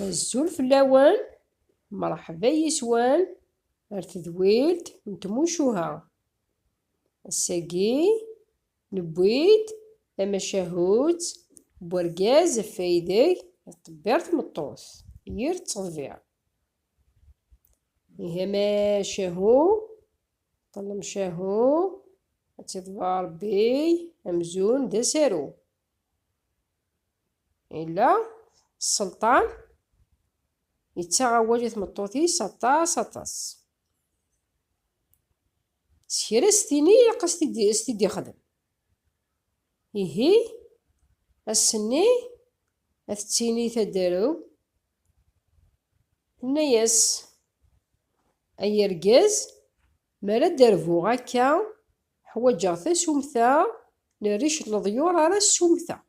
azul fell-awen mṛeḥba yis-wen ar tedwilt n tmucuha ass-agi Newwi-d tamacahut n urgaz ɣef waydeg iṭebbir tmeṭṭut yir ttḍebbiṛ. Ihi amacahu, ṭṭlemcahu, ad tt-iḍebber Ṛebbi amzun d asaru. Yella sselṭan yettaɣ awal i tmeṭṭut-is aṭas aṭas. S kra s tini ilaq a s-t-id-ixdem. Ihi, ass-nni, a t-tini taderu, tenna-yas, Ay argaz, mi ara d-rbuɣ akka, ḥwaǧeɣ tasumta n rric n leḍyur ara ssumteɣ.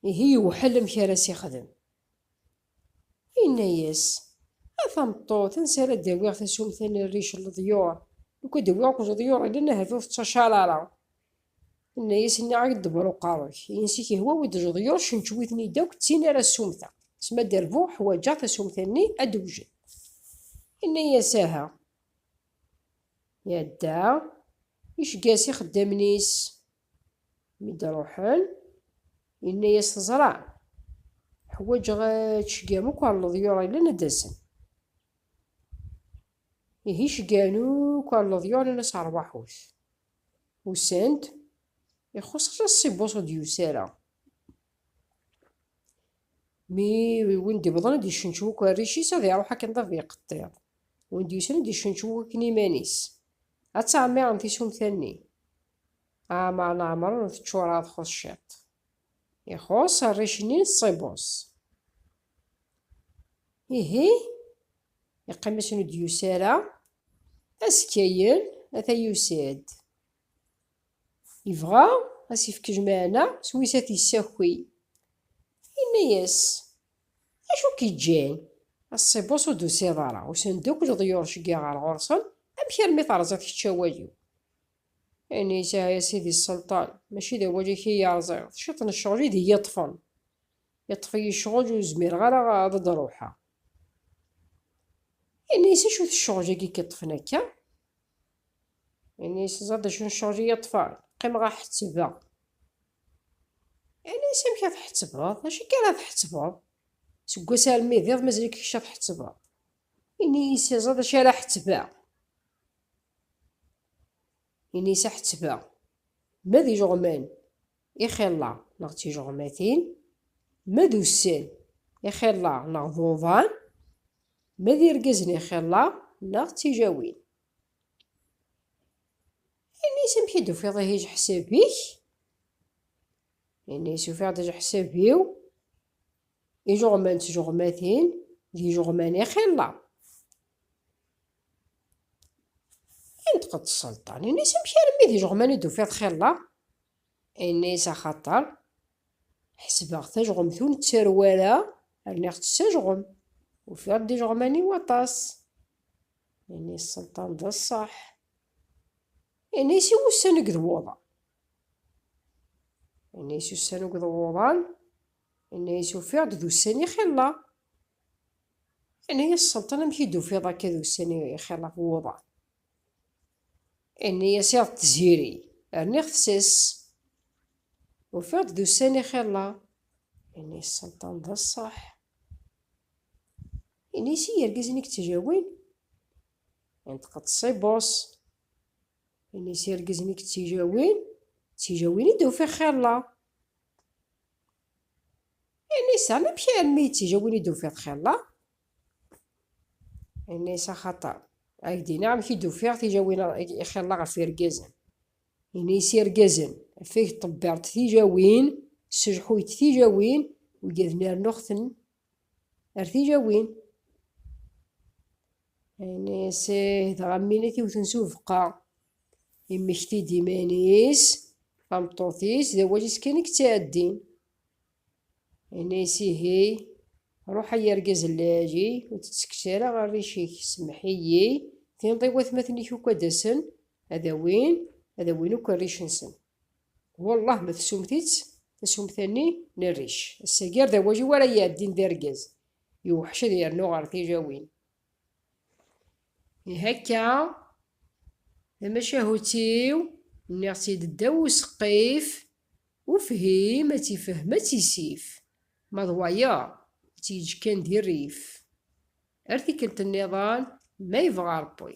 Ihi yewḥel amek ara s-ixdem. Yenna-yas, A tameṭṭut, ansi ara d-awiɣ tasumta n rric n leḍyur? Lukan d-awiɣ akked leḍyur yellan ahat ur tettacaṛ ara. Yenna-yas, Nniɣ-ak-d ḍebber uqerru-k, insi k-ihwa-wi-d leḍyur ccenčew-iten-id akk, d tin ara ssumteɣ. S ma d-rbuɣ, ḥwaǧeɣ tasumta-nni ad d-wjen. Yenna-yas, Aha. Iɛedda iseggas, ixeddamen-is Mi d-ruḥen, yenna-yas teẓra. Ḥwaǧeɣ tceggam akk ar leḍyur illan ad d-asen. Ihi ceggan akk ar leḍyur nnan-as rwaḥut. Usan-d, ixuṣ ɣas ṣibus ur d-yusi ara. Mi win d-iwḍen ad d-icenčew akk arric-is ad iruḥ akken d abiqeṭṭiḍ. Win d-yusan ad d-icenčew akk akken iman-is. Ad ttɛemmiren tisumta-nni. Ah, ma leɛmer teččureḍ txuṣ ciṭ. Ixuṣ rric-nni n ṣṣibus. Ihi, iqqim ass-n ur d-yusi ara, azekka-yen ata yusi-d. Yebɣa ad s-yefk jmaɛna s wis ad t-yessaki. Yenna-as, Acu k-iǧǧan? A ṣṣibus ur d-tusiḍ ara, usan-d akk leḍyur seg-a ɣer ɣur-sen, amek armi terẓiḍ kečč awal-iw? Ini sɛa ya sidi sselṭan, mačči d awal-ik i yi-rẓiɣ, d ciṭ n ccɣel i d iyi-yeṭṭfen. Yeṭṭef-iyi ccɣel ur zmireɣ ara ad d-ruḥeɣ. Ini-as acu-t ccɣel-agi i k-yeṭṭfen akka? Ini-as ẓer-d acu n ccɣel i yi-yeṭṭfen, qqimeɣ ad ḥettbeɣ. Ini-as amek ad tḥettbeḍ, d acu akka ara tḥettbeḍ? Seg wass armi d iḍ mazal-ik kečč ad tḥettbeḍ. Ini-yis iẓid acu ara ḥettbeɣ. Ini-yis aḥettbeɣ. Ma d ijeɣman, ixilla neɣ d tijeɣmatin, ma d ussan, ixilla neɣ d uḍan, ma d irgazen, ixilla neɣ d tijawin. Ini-yis amek i d-tufiḍ ihi ajeḥsab-ik? Ini-yis ufiɣ-d ajeḥsab-iw. Ijeɣman d tjeɣmatin d yijeɣman i xilla. Inṭeq-d sselṭan, ini-s amek armi d ijeɣman i d-tufiḍ xilla? Ini-s axaṭer ḥesbeɣ tajɣemt ur nettarew ara, rniɣ-tt s ajɣem, ufiɣ-d ijeɣman-iw aṭas. Ini-s sselṭan d ṣṣeḥ. Ini-s i wussan i d wuḍan. Yenna-yas ussan akked wuḍan, yenna-yas ufiɣ-d d ussan ixilla. Yenna-yas Selṭan amek i d-tufiḍ akka d ussan ixilla ɣef wuḍan? Yenna-yas iḍ d tziri, rniɣ tses. Ufiɣ-d d ussan ixilla. Yenna-yas Selṭan d ṣṣeḥ. Yenna-yas i yergazen i yettjawin, inṭeq-d Ṣibus. Ini s irgazen i yettijawin, ttijawin i d-ufiɣ xirla. Ini s amek armi yettijawin i d-ufiɣ xirla? Ini s axaṭer ad d amek i d-ufiɣ tijawin xirla ɣef irgazen. Ini s irgazen, afeg ṭebbirt tijawin, sejḥuyt tijawin, ugad nernuɣ-ten Ar tilawin. Ini sih dɣa mini-t iwten s ubeqqa. Immekti-d iman-is, tameṭṭut-is, d awal-is kan i yettɛeddin. Ini sihi, ruḥ ay argaz n lɛali, ur tettekkes ara arric-ik, semmeḥ-iyi, tinḍ i watmaten-ik akk ad d-asen, ad awin, ad awin akk arric-nsen. Wallah ma tsumt-itt, tasumta-nni n rric. Ass-agi ar d awaju ara iɛeddin d argaz. Iwḥec ad yernu ɣer tilawin. Ihi akka, tamacahut-iw, nniɣ-tt-id ddaw useqqif, ufhim ad tt-ifhem ad tt-isif, ma d wayeḍ ad tt-yeǧǧ kan di rrif. Ar tikkelt nniḍen, ma yebɣa Ṛebbi.